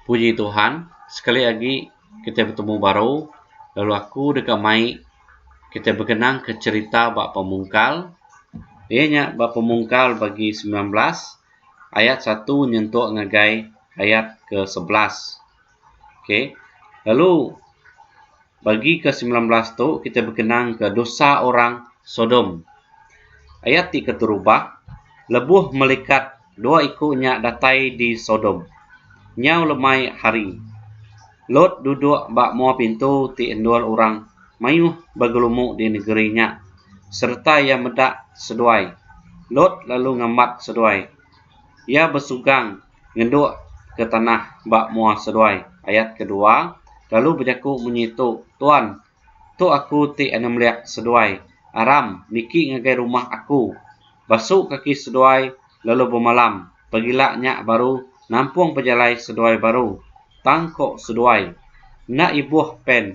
Puji Tuhan, sekali agi kitai betemu baru lalu aku deka mai kitai bekenangka cherita ba Pemungkal iya nya ba Pemungkal bagi sembilan belas ayat satu nyentuk ngagai ayat ke sebelas. ok lalu bagi ke semilan belas tu kita bekenang ke dosa orang sodom ayat ti keterubah lebuh melikat dua iku nya datai di sodom nyau lemai hari lot duduk ba mua pintu ti endur orang mayuh begelumu di negeri nya sereta iya meda seduai lot lalu ngambat seduai iya besugang ngenduk ke tanah ba mua seduai. Ayat kedua, lalu bejaku munyi tu, Tuan, tu aku ti anemlek seduai, aram niki ngagai rumah aku. Basu kaki seduai lalu bemalam, pagila nya baru nampung pejalai seduai baru. Tang ko seduai, Enda ibuh pen.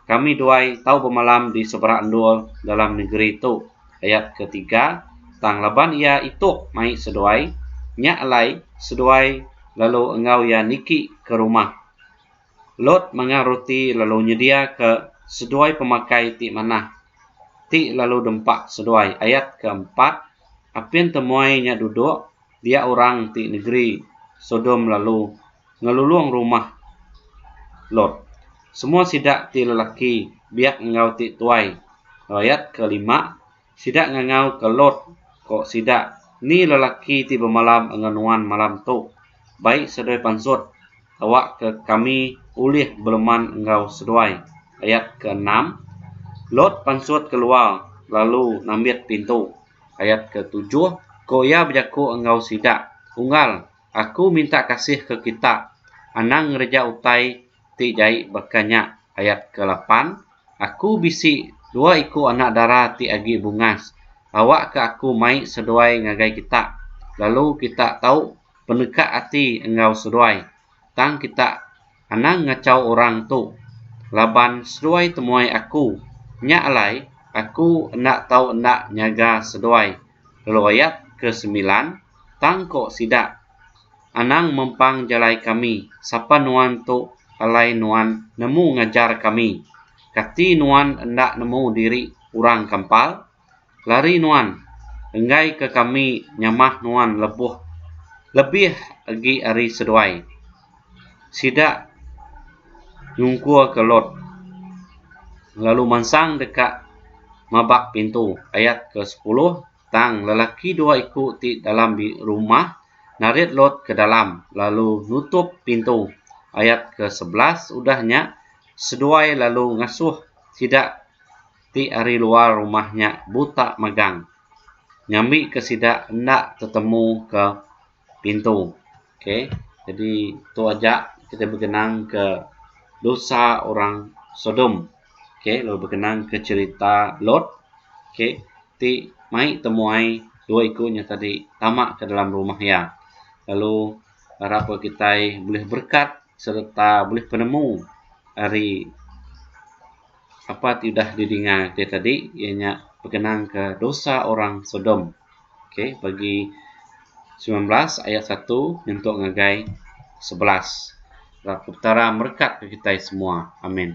Kami duai tau bemalam di seberak endur dalam negeri tu. Ayat ke tiga, Tang laban iya ituk mai seduai, nya alai seduai lalu enggau iya niki ke rumah. Lot mangang ruti lalu nyedia ke seduai pemakai ti manah, ti lalu dempak seduai. Ayat ke empat, Apin temuai nya duduk dia orang ti negeri Sodom lalu ngelulung rumah Lot. Semua sida ti lelaki, biak enggau ti tuai. Rayat ke lima, sida ngangau ke Lot, ko sida, Ni lelaki ti bemalam enggau nuan malam tu? Bai seduai pansut, awa ke kami ulih beleman enggau seduai. Ayat ke enam, Lot pansut keluar lalu nambit pintu. Ayat ke tujuh, Ko iya bejaku enggau sida, Unggal, aku minta kasih ke kita, anang ngereja utai ti jai baka nya. Ayat ke lapan, Aku bisi dua iku anak dara ti agi bungas. Awakka aku mai seduai ngagai kita, lalu kita tau peneka ati enggau seduai, tang kita Anang ngachau orang tu. Laban seduai temuai aku. Nya alai, aku enda tau enda nyaga seduai lalu ayat ke semilan, tang ko sida, Anang mempang jalai kami, sapa nuan tu alai nuan nemu ngajar kami? Kati nuan enda nemu diri orang kampal? Lari nuan, enggaika kami nyamah nuan lebuh lebih agi ari seduai. Sida nyungkurka Lot, lalu mansang deka mabak pintu. Ayat ke sepuluh, Tang lelaki dua iku ti dalam rumah narit Lot ke dalam, lalu nutup pintu. Ayat ke sebelas, Udah nya, seduai lalu ngasuh sida. ti ari luar rumah nya buta megang ngambi ke sida enda tetemu ke pintu okay jadi tu aja kita begenang ke dosa orang sodom okay lalu begenang ke cherita lot okay ti mai temuai dua iku nya tadi tama ke dalam rumah iya lalu arap ke kitai bulih berkat sereta bulih penemu ari Sapa ti udah didinga ti tadi iya nya begenang ke dosa orang sodom okay pagi sembilan belas ayat satu nyentuk ngagai sebelas petara merekat ke kitai semua amin.